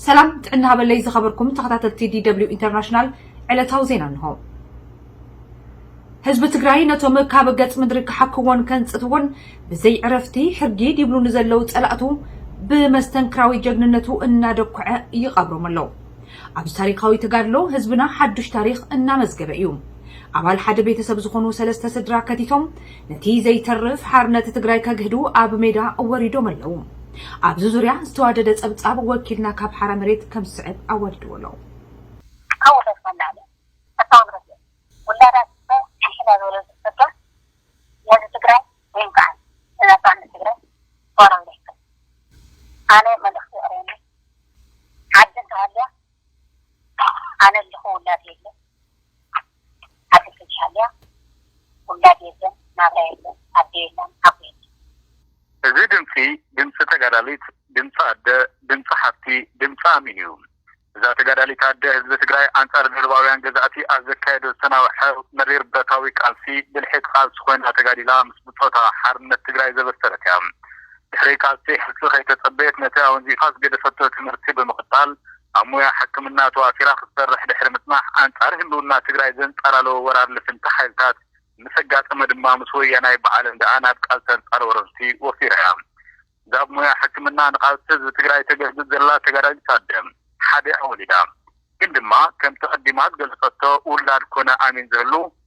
ሰላም ጥዕና ሃበለይ ዝኸበርኩም ተኸታተልቲ ዲደብሊው ኢንተርናሽናል ዕለታዊ ዜና እንሆ። ህዝቢ ትግራይ ነቶም ካብ ገጽ ምድሪ ክሓክዎን ከንጽትዎን ብዘይ ዕረፍቲ ሕርጊድ ይብሉ ንዘለው ጸላእቱ ብመስተንክራዊ ጀግንነቱ እናደኩዐ ይቐብሮም ኣሎ። ኣብዚ ታሪኻዊ ተጋድሎ ህዝብና ሓዱሽ ታሪኽ እናመዝገበ እዩ። ኣባል ሓደ ቤተሰብ ዝኾኑ ሰለስተ ስድራ ከቲቶም ነቲ ዘይተርፍ ሓርነት ትግራይ ከግህዱ ኣብ ሜዳ ወሪዶም ኣለዉ። ኣብዚ ዙርያ ዝተዋደደ ጸብጻብ ወኪልና ካብ ሓራ መሬት ከም ዝስዕብ ኣዋዲድዎ ኣሎ። ካብ ውርደት ንላዕሊ ፈታዊ ንረድኤት ውላዳ ትግራይ ሕንሕን ኣብ ዝበለሉ ዝፍጸም ንህዝቢ ትግራይ ዘይንፋዕን ንናጽነት ትግራይ እዋናዊ ዘይሕጋዊ ኣነ መልእኽቲ የቕርበኒ። ዓዲ እንተሃልያ ኣነ ኣለኹ ውላድ የለን ዓዲ ተዝሃልያ ውላድ የለን ናብራ የለን ኣደ የላን ሓው የለን። እዚ ድምጺ ድምጺ ተጋዳሊት ድምጺ ኣደ ድምጺ ሓፍቲ ድምጺ ኣሚን እዩ እዛ ተጋዳሊት ኣደ ህዝቢ ትግራይ ኣንጻር ደርባውያን ገዛእቲ ኣብ ዘካየዶ ዝተናውሐ መሪር ብረታዊ ቃልሲ ብልሒ ተቃልሲ ኮይና ተጋዲላ ምስ ብጾታ ሓርነት ትግራይ ዘበሰረት እያ ድሕሪ ቃልሲ ሕልፊ ከይተጸበየት ነቲ ኣወንዚፋ ዝገደፈቶ ትምህርቲ ብምቕጻል ኣብ ሙያ ሕክምና ተዋፊራ ክትሰርሕ ድሕሪ ምጽናሕ ኣንጻር ህልውና ትግራይ ዘንጻላለወ ወራር ልፍንቲ ሓይልታት ምስ ኣጋጠመ ድማ ምስ ወያናይ ብዓል እንዳኣ ናብ ቃልሲ ኣንጻር ወረርቲ ወፊራ'ያ። እዛ ብ ሙያ ሕክምና ንቓልሲ ህዝቢ ትግራይ ተገልግል ዘላ ተጋዳሊት ኣደ ሓደ ወሊዳ ግን ድማ ከምቲ ኣቐዲማ ዝገለጸቶ ውላድ ኮነ ኣሚን ዝህሉ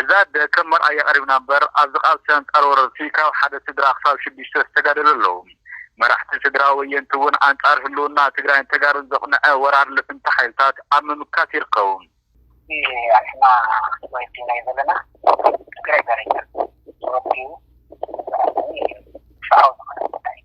እዛ ኣደ ከም መርኣያ ቀሪብና እምበር ኣብዚ ቃልሲ ኣንጻር ወረርቲ ካብ ሓደ ስድራ ክሳብ ሽዱሽተ ዝተጋደሉ ኣለዉ። መራሕቲ ስድራ ወየንቲ እውን ኣንጻር ህልውና ትግራይን ተጋሩን ዘቕንዐ ወራር ልፍንቲ ሓይልታት ኣብ ምምካት ይርከቡ። እቲ ኣስና ወዲ ናይ ዘለና ትግራይ ዘረኛን ዝወዲኡ ዘረኛን እዩ። ፍትሓዊ ዝኾነ ጉዳይ እዩ።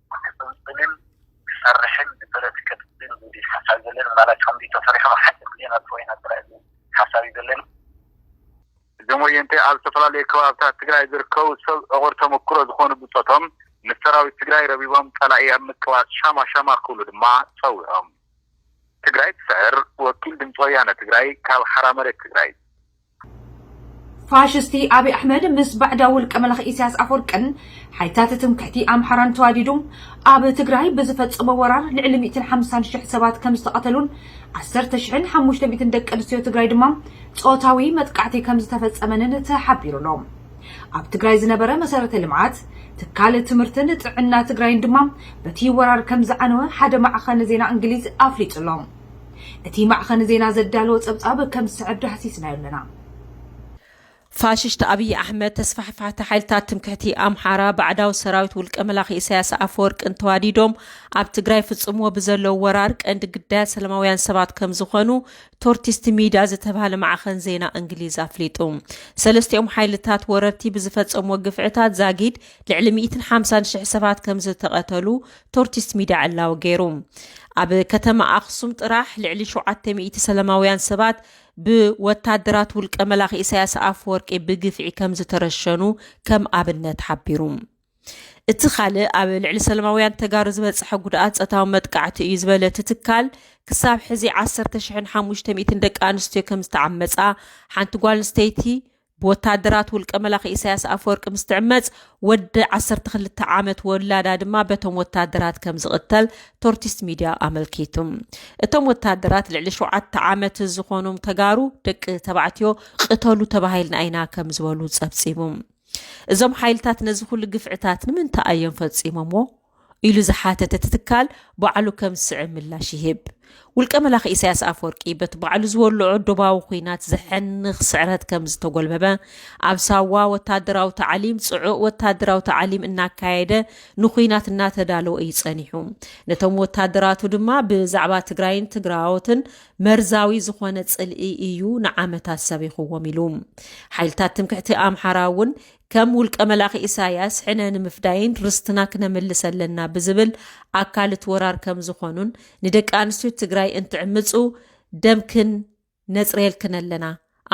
ክትጽልጽልን ክሰርሕን ብጥረት ከትጽል ዝብል ሓሳብ ዘለኒ ማላች ከምዚ ተሰሪሑ ሓጺር ግዜ ነጥፍኦ ኢና ጥራይ ዝብል ሓሳብ እዩ ዘለኒ። እዞም ወየንቲ ኣብ ዝተፈላለዩ ከባብታት ትግራይ ዝርከቡ ሰብ ዕቑር ተመኩሮ ዝኾኑ ብጾቶም ምስ ሰራዊት ትግራይ ረቢቦም ጸላኢ ኣብ ምቅባጽ ሻማ ሻማ ክብሉ ድማ ጸዊዖም። ትግራይ ትስዕር ወኪል ድምጺ ወያነ ትግራይ ካብ ሓራ መሬት ትግራይ። ፋሽስቲ ኣብይ ኣሕመድ ምስ ባዕዳዊ ውልቀ መላኺ ኢሳያስ ኣፈወርቅን ሓይልታት ትምክሕቲ ኣምሓራን ተዋዲዱ ኣብ ትግራይ ብዝፈጸሞ ወራር ልዕሊ ሚእትን ሓምሳን ሽሕ ሰባት ከም ዝተቐተሉን ዓሰርተ ሽሕን ሓሙሽተ ሚእትን ደቂ ኣንስትዮ ትግራይ ድማ ጾታዊ መጥቃዕቲ ከም ዝተፈጸመንን ተሓቢሩ ኣሎ። ኣብ ትግራይ ዝነበረ መሰረተ ልምዓት ትካል ትምህርትን ጥዕና ትግራይን ድማ በቲ ወራር ከም ዝዓነወ ሓደ ማዕኸን ዜና እንግሊዝ ኣፍሊጡ ኣሎ። እቲ ማዕኸን ዜና ዘዳለዎ ፀብፃብ ከም ዝስዕብ ዳህሲስናዮ ኣለና። ፋሽስት ኣብይ ኣሕመድ፣ ተስፋሕፋሕቲ ሓይልታት ትምክሕቲ ኣምሓራ ባዕዳዊ ሰራዊት ውልቀ መላኺ ኢሳያስ ኣፈወርቅን ተዋዲዶም ኣብ ትግራይ ፍጽምዎ ብዘለው ወራር ቀንዲ ግዳያት ሰላማውያን ሰባት ከምዝኾኑ ቶርቲስት ሚድያ ዝተብሃለ ማዕኸን ዜና እንግሊዝ ኣፍሊጡ። ሰለስቲኦም ሓይልታት ወረርቲ ብዝፈጸምዎ ግፍዕታት ዛጊድ ልዕሊ ሚእትን ሓምሳን ሽሕ ሰባት ከምዝተቐተሉ ቶርቲስት ሚድያ ዕላዊ ገይሩ። ኣብ ከተማ ኣኽሱም ጥራሕ ልዕሊ ሸውዓተ ሚእቲ ሰለማውያን ሰባት ብወታደራት ውልቀ መላኺ ኢሳያስ ኣፈወርቂ ብግፍዒ ከምዝተረሸኑ ከም ኣብነት ሓቢሩ። እቲ ካልእ ኣብ ልዕሊ ሰለማውያን ተጋሩ ዝበፀሐ ጉድኣት ጸታዊ መጥቃዕቲ እዩ ዝበለ እቲ ትካል ክሳብ ሕዚ ዓሰርተ ሽሕን ሓሙሽተ ሚእትን ደቂ ኣንስትዮ ከምዝተዓመጻ ሓንቲ ጓል ኣንስተይቲ ብወተሃደራት ውልቀ መላኺ ኢሳያስ ኣፈወርቂ ምስ ትዕመጽ፣ ወዲ ዓሰርተ ክልተ ዓመት ወላዳ ድማ በቶም ወተሃደራት ከም ዝቕተል ቶርቲስት ሚድያ ኣመልኪቱ። እቶም ወተሃደራት ልዕሊ ሸውዓተ ዓመት ዝኾኑም ተጋሩ ደቂ ተባዕትዮ ቕተሉ ተባሂልና ኢና ከም ዝበሉ ጸብጺቡ። እዞም ሓይልታት ነዚ ኩሉ ግፍዕታት ንምንታይ ኣዮም ፈጺሞምዎ? ኢሉ ዝሓተተ እቲ ትካል ባዕሉ ከም ዝስዕብ ምላሽ ይህብ። ውልቀ መላኺ ኢሳያስ ኣፈወርቂ በቲ ባዕሉ ዝወልዖ ዶባዊ ኩናት ዘሕንኽ ስዕረት ከም ዝተጎልበበ ኣብ ሳዋ ወታደራዊ ታዕሊም ጽዑቕ ወታደራዊ ታዕሊም እናካየደ ንኩናት እናተዳለወ እዩ ጸኒሑ። ነቶም ወታደራቱ ድማ ብዛዕባ ትግራይን ትግራዎትን መርዛዊ ዝኾነ ጽልኢ እዩ ንዓመታት ሰቢኽዎም ኢሉ። ሓይልታት ትምክሕቲ ኣምሓራ እውን ከም ውልቀ መላኺ ኢሳያስ ሕነ ንምፍዳይን ርስትና ክነምልስ ኣለና ብዝብል ኣካል እቲ ወራር ከም ዝኾኑን ንደቂ ኣንስትዮ ትግራይ እንትዕምፁ ደምክን ነፅርየልክን ኣለና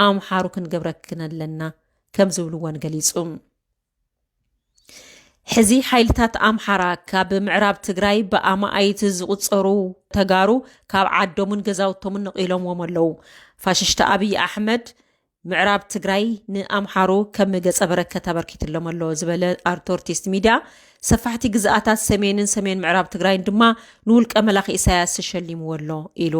ኣምሓሩ ክንገብረክን ኣለና ከም ዝብልዎን ገሊፁ። ሕዚ ሓይልታት ኣምሓራ ካብ ምዕራብ ትግራይ ብኣማኣይቲ ዝቑፀሩ ተጋሩ ካብ ዓዶምን ገዛውቶምን ነቒሎምዎም ኣለዉ። ፋሽሽቲ ኣብዪ ኣሕመድ ምዕራብ ትግራይ ንኣምሓሩ ከም ገፀ በረከት ኣበርኪትሎም ኣሎ ዝበለ ኣርቶርቲስት ሚድያ ሰፋሕቲ ግዝኣታት ሰሜንን ሰሜን ምዕራብ ትግራይን ድማ ንውልቀ መላኺ ኢሳያስ ተሸሊምዎ ኣሎ ኢሉ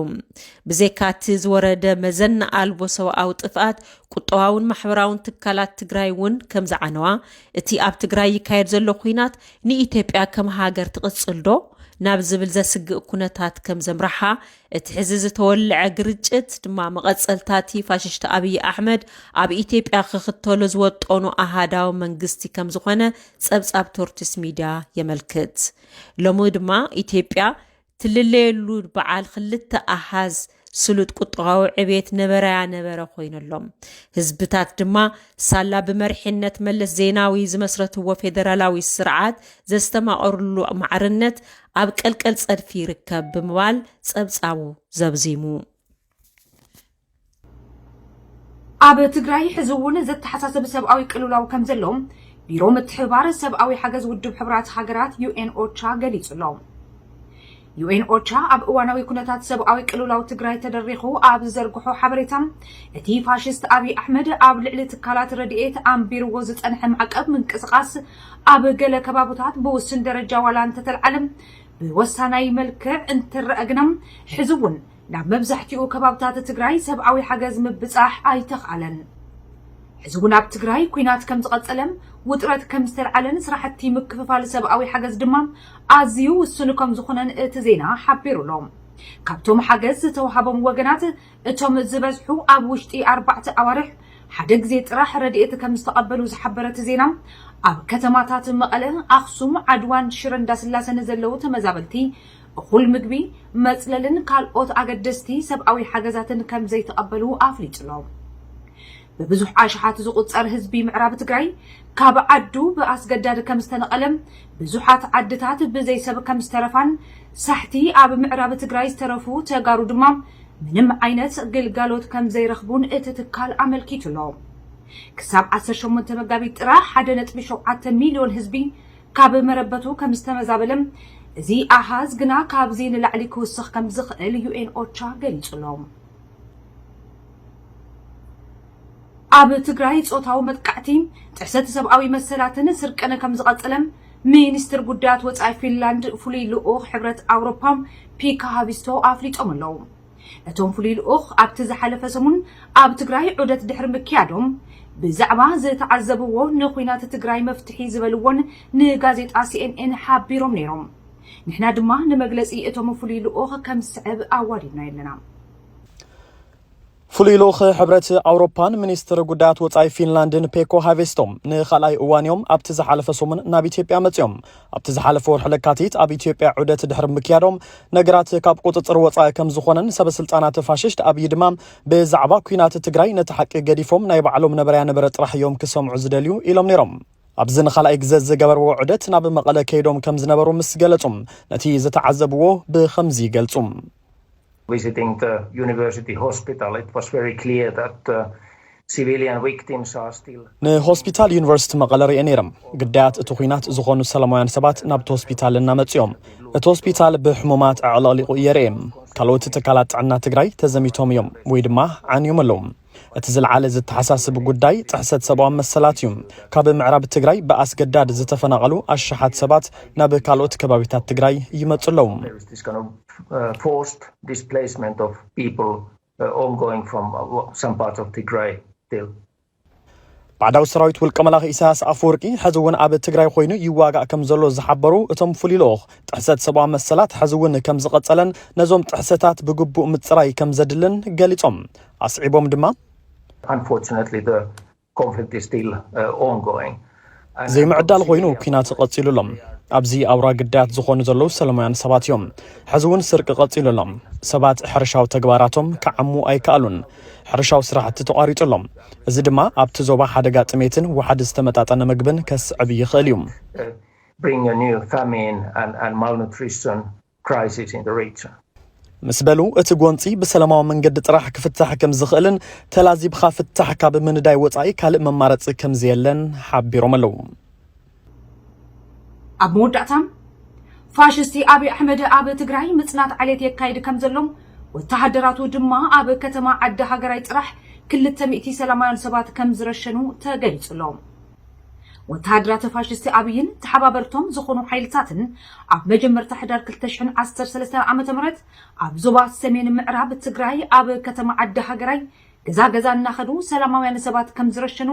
ብዘካ እቲ ዝወረደ መዘና ኣልቦ ሰብኣዊ ጥፍኣት ቁጠባውን ማሕበራውን ትካላት ትግራይ እውን ከም ዝዓነዋ እቲ ኣብ ትግራይ ይካየድ ዘሎ ኩናት ንኢትዮጵያ ከም ሃገር ትቕፅልዶ ናብ ዝብል ዘስግእ ኩነታት ከም ዘምራሓ እቲ ሕዚ ዝተወልዐ ግርጭት ድማ መቐጸልታቲ ፋሽሽቲ ኣብይ ኣሕመድ ኣብ ኢትዮጵያ ክኽተሎ ዝወጠኑ ኣሃዳዊ መንግስቲ ከም ዝኾነ ጸብጻብ ቶርቲስ ሚድያ የመልክት። ሎሚ ድማ ኢትዮጵያ ትልለየሉ በዓል ክልተ ኣሃዝ ስሉጥ ቁጠባዊ ዕቤት ነበረያ ነበረ ኮይነሎም ህዝብታት ድማ ሳላ ብመርሒነት መለስ ዜናዊ ዝመስረትዎ ፌደራላዊ ስርዓት ዘስተማቐርሉ ማዕርነት ኣብ ቀልቀል ጸድፊ ይርከብ ብምባል ጸብጻቡ ዘብዚሙ። ኣብ ትግራይ ሕዚ እውን ዘተሓሳስብ ሰብኣዊ ቅልውላው ከምዘሎ ቢሮ ምትሕብባር ሰብኣዊ ሓገዝ ውድብ ሕቡራት ሃገራት ዩኤን ኦቻ ገሊጹ ኣሎ። ዩኤን ኦቻ ኣብ እዋናዊ ኩነታት ሰብኣዊ ቅልውላው ትግራይ ተደሪኹ ኣብ ዝዘርግሖ ሓበሬታ እቲ ፋሽስት ኣብዪ ኣሕመድ ኣብ ልዕሊ ትካላት ረድኤት ኣንቢርዎ ዝጸንሐ ማዕቀብ ምንቅስቓስ ኣብ ገለ ከባቡታት ብውስን ደረጃ ዋላ እንተተልዓለ ብወሳናይ መልክዕ እንትረኣ ግና ሕዚ እውን ናብ መብዛሕቲኡ ከባብታት ትግራይ ሰብኣዊ ሓገዝ ምብፃሕ ኣይተኽኣለን። ሕዚ እውን ኣብ ትግራይ ኲናት ከምዝቐፀለ፣ ውጥረት ከምዝተልዓለን ስራሕቲ ምክፍፋል ሰብኣዊ ሓገዝ ድማ ኣዝዩ ውሱን ከምዝኾነን እቲ ዜና ሓቢሩ ኣሎ። ካብቶም ሓገዝ ዝተውሃቦም ወገናት እቶም ዝበዝሑ ኣብ ውሽጢ ኣርባዕተ ኣዋርሕ ሓደ ግዜ ጥራሕ ረድኤት ከምዝተቐበሉ ዝሓበረ እቲ ዜና፣ ኣብ ከተማታት መቐለ፣ ኣኽሱም፣ ዓድዋን ሽረ እንዳስላሰን ዘለዉ ተመዛበልቲ እኹል ምግቢ፣ መፅለልን ካልኦት ኣገደስቲ ሰብኣዊ ሓገዛትን ከምዘይተቐበሉ ኣፍሊጡ'ሎ። ብብዙሕ ኣሽሓት ዝቑጸር ህዝቢ ምዕራብ ትግራይ ካብ ዓዱ ብኣስገዳድ ከም ዝተነቐለም፣ ብዙሓት ዓድታት ብዘይ ሰብ ከም ዝተረፋን፣ ሳሕቲ ኣብ ምዕራብ ትግራይ ዝተረፉ ተጋሩ ድማ ምንም ዓይነት ግልጋሎት ከም ዘይረኽቡን እቲ ትካል ኣመልኪቱ ኣሎ። ክሳብ ዓሰርተ ሸሞንተ መጋቢት ጥራሕ ሓደ ነጥቢ ሸውዓተ ሚልዮን ህዝቢ ካብ መረበቱ ከም ዝተመዛበለም፣ እዚ ኣሃዝ ግና ካብዚ ንላዕሊ ክውስኽ ከም ዝኽእል ዩኤን ኦቻ ገሊጹ ኣሎ። ኣብ ትግራይ ፆታዊ መጥቃዕቲ፣ ጥሕሰት ሰብኣዊ መሰላትን ስርቅን ከምዝቐፀለ ሚኒስትር ጉዳያት ወፃኢ ፊንላንድ ፍሉይ ልኡኽ ሕብረት ኣውሮፓ ፒካ ሃቪስቶ ኣፍሊጦም ኣለው። እቶም ፍሉይ ልኡኽ ኣብቲ ዝሓለፈ ሰሙን ኣብ ትግራይ ዑደት ድሕሪ ምክያዶም ብዛዕባ ዝተዓዘብዎ ንኩናት ትግራይ መፍትሒ ዝበልዎን ንጋዜጣ ሲኤንኤን ሓቢሮም ነይሮም። ንሕና ድማ ንመግለፂ እቶም ፍሉይ ልኡኽ ከምዝስዕብ ኣዋዲድናዮ ኣለና። ፍሉይ ልኡኽ ሕብረት ኣውሮፓን ሚኒስትር ጉዳያት ወፃኢ ፊንላንድን ፔኮ ሃቬስቶ ንካልኣይ እዋን እዮም ኣብቲ ዝሓለፈ ሰሙን ናብ ኢትዮጵያ መፅኦም ኣብቲ ዝሓለፈ ወርሒ ለካቲት ኣብ ኢትዮጵያ ዑደት ድሕሪ ምክያዶም ነገራት ካብ ቁፅፅር ወፃኢ ከም ዝኾነን ሰበስልጣናት ፋሽስት ኣብዪ ድማ ብዛዕባ ኩናት ትግራይ ነቲ ሓቂ ገዲፎም ናይ ባዕሎም ነበረያ ነበረ ጥራሕ እዮም ክሰምዑ ዝደልዩ ኢሎም ነይሮም ኣብዚ ንኻልኣይ ግዘ ዝገበርዎ ዑደት ናብ መቐለ ከይዶም ከም ዝነበሩ ምስ ገለጹ ነቲ ዝተዓዘብዎ ብኸምዚ ይገልጹ ንሆስፒታል ዩኒቨርሲቲ መቐለ ርእየ ነይረ። ግዳያት እቲ ኲናት ዝኾኑ ሰላማውያን ሰባት ናብቲ ሆስፒታል እናመፁ እዮም። እቲ ሆስፒታል ብሕሙማት ኣዕለቕሊቑ እየ ርእየ። ካልኦት ትካላት ጥዕና ትግራይ ተዘሚቶም እዮም ወይ ድማ ዓንዮም ኣለዉ። እቲ ዝልዓለ ዝተሓሳስብ ጉዳይ ጥሕሰት ሰብኣዊ መሰላት እዩ። ካብ ምዕራብ ትግራይ ብኣስገዳድ ዝተፈናቐሉ ኣሽሓት ሰባት ናብ ካልኦት ከባቢታት ትግራይ ይመፁ ኣለዉ። ባዕዳዊ ሰራዊት ውልቀ መላኺ ኢሳያስ ኣፈወርቂ ሕዚ እውን ኣብ ትግራይ ኮይኑ ይዋጋእ ከም ዘሎ ዝሓበሩ እቶም ፍሉይ ልኡኽ ጥሕሰት ሰብኣዊ መሰላት ሕዚ እውን ከም ዝቐጸለን ነዞም ጥሕሰታት ብግቡእ ምጽራይ ከም ዘድልን ገሊጾም ኣስዒቦም ድማ Unfortunately, the conflict is still uh, ongoing. ዘይምዕዳል ኮይኑ ኩናት ቀፂሉ ኣሎ ኣብዚ ኣውራ ግዳያት ዝኾኑ ዘለዉ ሰለማውያን ሰባት እዮም ሕዚ እውን ስርቂ ቀፂሉ ኣሎ ሰባት ሕርሻዊ ተግባራቶም ክዓሙ ኣይከኣሉን ሕርሻዊ ስራሕቲ ተቋሪጹ ኣሎ። እዚ ድማ ኣብቲ ዞባ ሓደጋ ጥሜትን ዋሕዲ ዝተመጣጠነ ምግብን ከስዕብ ይኽእል እዩ። ምስ በሉ፣ እቲ ጎንጺ ብሰለማዊ መንገዲ ጥራሕ ክፍታሕ ከምዝኽእልን ተላዚብኻ ፍታሕ ካብ ምንዳይ ወጻኢ ካልእ መማረጺ ከምዘየለን ሓቢሮም ኣለው። ኣብ መወዳእታ ፋሽስቲ ኣብይ ኣሕመድ ኣብ ትግራይ ምፅናት ዓሌት የካይድ ከም ዘሎ ወተሃደራቱ ድማ ኣብ ከተማ ዓዲ ሃገራይ ጥራሕ ክልተ ሚእቲ ሰላማውያን ሰባት ከም ዝረሸኑ ተገሊፁ ኣሎ። ወተሃደራት ፋሽስቲ ኣብይን ተሓባበርቶም ዝኾኑ ሓይልታትን ኣብ መጀመርታ ሕዳር ክልተ ሽሕን ዓሰርተ ሰለስተን ዓመተ ምህረት ኣብ ዞባ ሰሜን ምዕራብ ትግራይ ኣብ ከተማ ዓዲ ሃገራይ እዛ ገዛ እናኸዱ ሰላማውያን ሰባት ከም ዝረሸኑ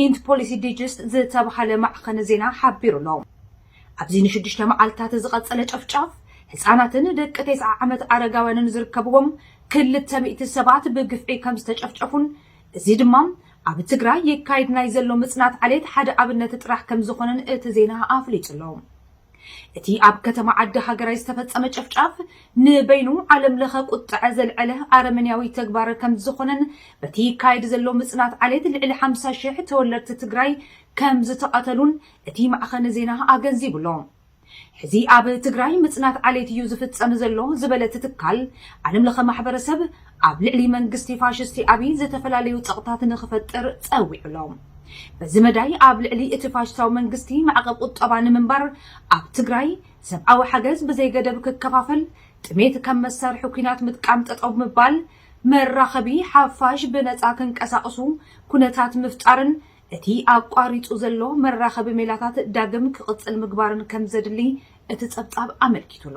ኢንት ፖሊሲ ዲጅስት ዝተብሃለ ማዕኸን ዜና ሓቢሩ ኣሎ። ኣብዚ ንሽዱሽተ መዓልትታት ዝቐጸለ ጨፍጫፍ፣ ህጻናትን ደቂ ቴስዓ ዓመት ኣረጋውያንን ዝርከብዎም ክልተ ሚእቲ ሰባት ብግፍዒ ከም ዝተጨፍጨፉን እዚ ድማ ኣብ ትግራይ ይካየድ ናይ ዘሎ ምጽናት ዓሌት ሓደ ኣብነት ጥራሕ ከም ዝኾነን እቲ ዜና ኣፍሊጡ ኣሎ። እቲ ኣብ ከተማ ዓዲ ሃገራይ ዝተፈጸመ ጨፍጫፍ ንበይኑ ዓለም ለኸ ቁጥዐ ዘልዐለ ኣረመንያዊ ተግባር ከምዝኾነን በቲ ይካየድ ዘሎ ምጽናት ዓሌት ልዕሊ ሓምሳ ሽሕ ተወለድቲ ትግራይ ከምዝተቐተሉን እቲ ማዕኸን ዜና ኣገንዚቡ ኣሎ። ሕዚ ኣብ ትግራይ ምጽናት ዓሌት እዩ ዝፍጸም ዘሎ ዝበለ እቲ ትካል፣ ዓለም ለኸ ማሕበረሰብ ኣብ ልዕሊ መንግስቲ ፋሽስቲ ኣብይ ዝተፈላለዩ ጸቕጥታት ንኽፈጥር ጸዊዑ'ሎ። በዚ መዳይ ኣብ ልዕሊ እቲ ፋሽስታዊ መንግስቲ ማዕቐብ ቁጠባ ንምንባር፣ ኣብ ትግራይ ሰብኣዊ ሓገዝ ብዘይገደብ ክከፋፈል፣ ጥሜት ከም መሳርሒ ኲናት ምጥቃም ጠጠው ምባል፣ መራኸቢ ሓፋሽ ብነጻ ክንቀሳቕሱ ኩነታት ምፍጣርን እቲ ኣቋሪጹ ዘሎ መራኸቢ ሜላታት ዳግም ክቕጽል ምግባርን ከምዘድሊ እቲ ጸብጻብ ኣመልኪቱ'ሎ።